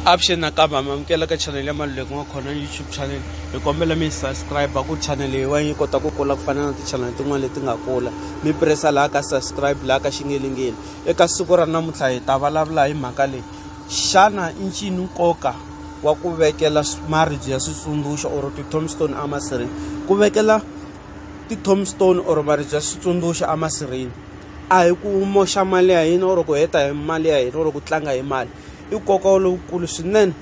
Avuxeni nakambe ha mi amukela ka channel ya Maluleki wa khona YouTube channel hi kombela mi subscribe ku channel leyiwani yi kota ku kula ku fana na ti-channel tin'wana leti nga kula mi pressa laha ka subscribe laha ka xingelingeli eka siku ra namuntlha hi ta vulavula hi mhaka leyi xana i ncini nkoka wa ku vekela maribye ya switsundzuxo or ti-tombstone emasirheni ku vekela ti-tombstone or maribye ya switsundzuxo emasirheni a hi ku moxa mali ya hina or ku heta hi mali ya hina or ku tlanga hi mali i nkoka lowukulu swinene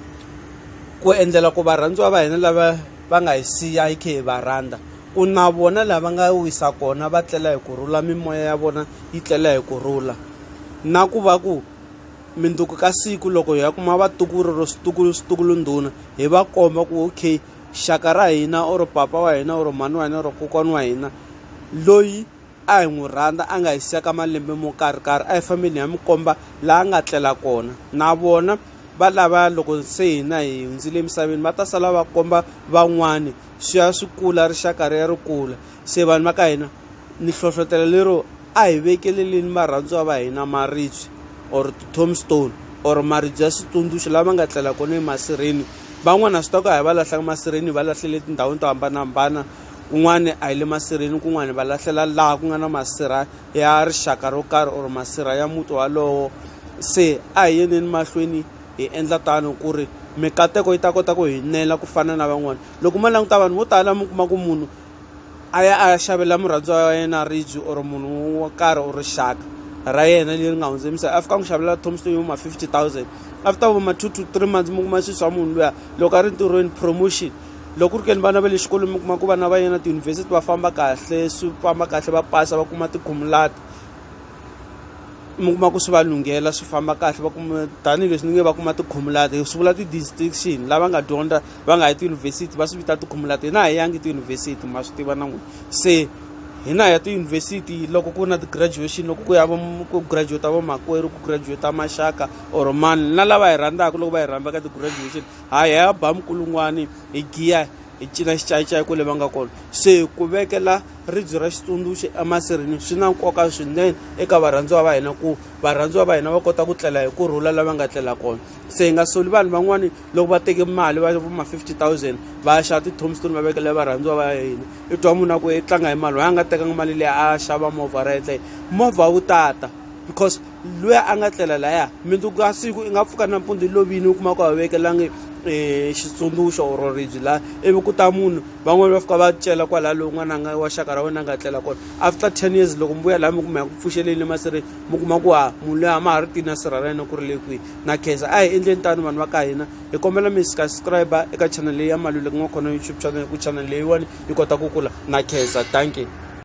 ku endlela ku varhandziwa va hina lava va nga hi siya hi khe hi va rhandza ku na vona laha va nga wisa kona va tlela hi ku rhula mimoya ya vona yi tlela hi ku rhula na ku va ku minduku ka siku loko hi ya kuma vatukulu ro switukulu switukulu ndhuna hi va komba ku okay xaka ra hina or papa wa hina or mhani wa hina or kokwana wa hina loyi a hi n'wi rhandza a nga hi siya ka malembe mo karhikarhi a hi fambeni hi ya mi komba laha a nga tlela kona na vona va lava loko se hina hi hundzile emisaveni va ta sala va komba van'wani swi ya swi kula rixaka ri ya ri kula se vanhu va ka hina ni hlohlotelo lero a hi vekeleleni varhandziwa va hina maribye or ti-tombstone or maribye ya switsundzuxo lava nga tlela kona emasirheni van'wana swi ta ku a hi va lahlaka masirheni hi va lahlele etindhawini to hambanahambana kun'wani a hi le masirheni kun'wani va lahlela laha ku nga na masirha ya rixaka ro karhi or masirha ya muti walowo se a hi yeni emahlweni hi endla tano ku ri mikateko yi ta kota ku hi nela ku fana na van'wana loko ma languta vanhu vo tala mi kuma ku munhu a ya a ya xavela murhandziwa wa yena ridge or munhu wo karhi or rixaka ra yena leri nga hundze misava a fika n'wi xavela tombstone yo ma fifty thousand after vo ma two to three months mi kuma swi swa munhu luya loko a ri ntirhweni promotion loko ku ri ke ni vana va le xikolweni mi kuma ku vana va yena tiyunivhesiti va famba kahle swi famba kahle va pasa va kuma tikhumulati mi kuma ku swi va lunghela swi famba kahle va kuma tanihileswi ni nge va kuma tikhumulati swi vula ti-distinction lava nga dyondza va nga yi tiyunivhesiti va swi vita tikhumulati hina a hi yangi tiyunivhesiti ma swi tiva na n'wina se hina hi ya tiyunivhesiti loko ku ri na ti-graduation loko ku ya va ku graduate vamakwerhu ku graduate maxaka or mani na lava hi rhandzaka loko va hi rhandza ka ti-graduation Hi ya ba minkulungwani hi giya hi cina xicayicayi kwale va nga kona se ku vekela ribye ra xitsundzuxo emasirini swi na nkoka swinene eka varhandziwa va hina ku varhandziwa va hina va kota ku tlela hi ku rhula lava nga tlela kona se hi nga soli vanhu van'wani loko va teke mali va ma 50 000 va ya xava ti-tomstone va vekela varhandziwa va hina i twa munhu a ku i tlanga hi mali wa a nga tekanga mali leyi a xava movha ra yetleyo movha wu tata because luya a nga tlela laya mundzuku ka siku i nga pfuka nampundzu i lovile u kuma ku a vekelangi um e, xitsundzuxo or ribyi laha ivi ku ta munhu van'wani va fika va cela kwalaha lowu n'wana nga wa xaka ra wena a nga tlela kona after ten years loko mi vuya laha mi kuma ya ku pfuxeleni le masirheni mi kuma ku ha munhu loyi a ma ha ri tina sirha ra yena ku ri le kwihi na khensa a hi endleni tano vanhu va ka hina hi kombela mi subscribe eka channel leyi ya maluleki nga khona youtube channel ku channel leyiwani yi kota ku kula na khensa thank you